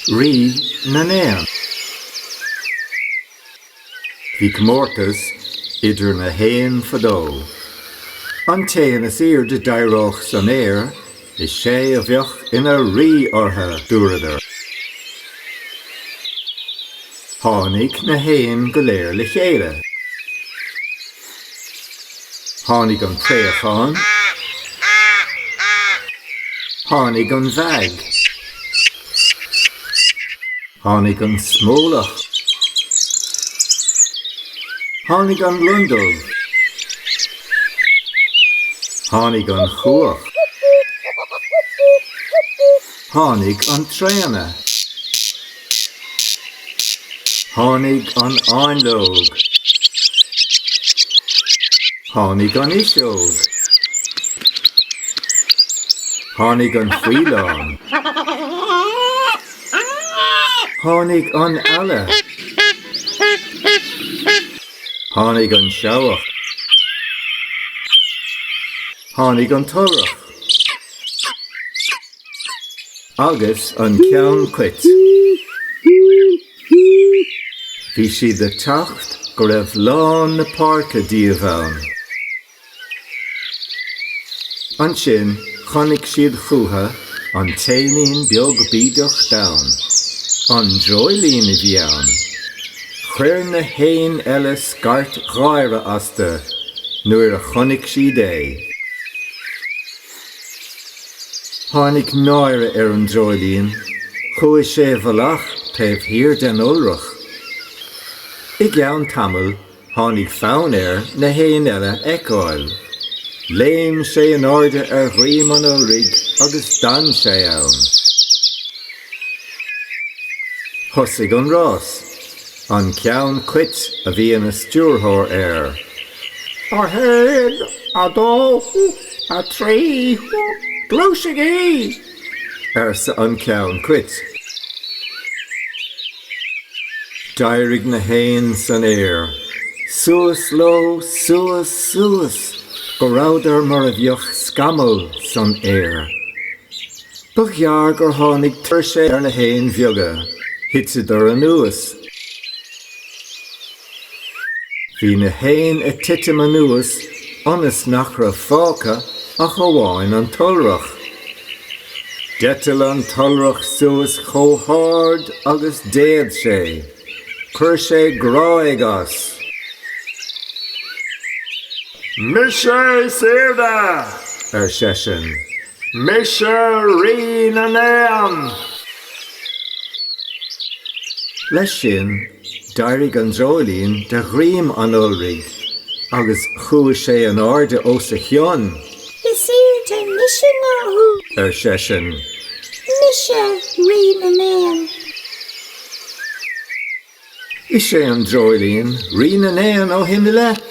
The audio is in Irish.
Rí na nÉan. Bhí comórtas idir na héin fadó. An t-éan is aoirde d'éireodh san aer, is é a bheadh ina rí orthu, dúradar. Tháinig na héin go léir le chéile. Tháinig an préachán. Tháinig an mheaig. Tháinig an smólach. Tháinig an lon dubh. Tháinig an chuach. Tháinig an traona. Tháinig an fháinleog. Tháinig an fhuiseog. Tháinig an faoileán. Tháinig an eala. Tháinig an seabhac. Tháinig an t-iolrach. Agus an ceann cait. Bhí siad ag teacht go raibh lán na páirce díobh ann. Ansin chonaic siad chucu an t-éinín beag bídeach donn. An dreoilín a bhí ann! Chuir na héin eile scairt gháire astu nuair a chonaic siad é. Tháinig náire ar an dreoilín. Chuaigh sé i bhfolach taobh thiar den iolrach. I gceann tamaill, tháinig fonn air na héin eile a fheiceáil. Léim sé in airde ar dhroim an iolraigh agus d'fhan sé ann. Thosaigh an rás. An ceann cait a bhí ina stiúrthóir air. A haon, a dó, A trí, gluaisigí! arsa an ceann cait. D'éirigh na héin san aer. Suas leo, suas, suas, go rabhadar mar a bheadh scamaill san aer. Ba ghearr gur tháinig tuirse ar na héin bheaga. Thiteadar anuas. Bhí na héin ag titim anuas ionas nach raibh fágtha ach amháin an t-iolrach. D'eitil an t-iolrach suas chomh hard is a d'fhéad sé. Chuir sé gráig as. Mise is airde! ar seisean. Mise Rí na nÉan! Leis sin, d'éirigh an dreoilín de dhroim an iolraigh agus chuaigh sé in airde os a chionn. Is airde mise ná thú! ar seisean. Mise Rí na nÉan! Is é an dreoilín rí na n-éan ó shin i leith.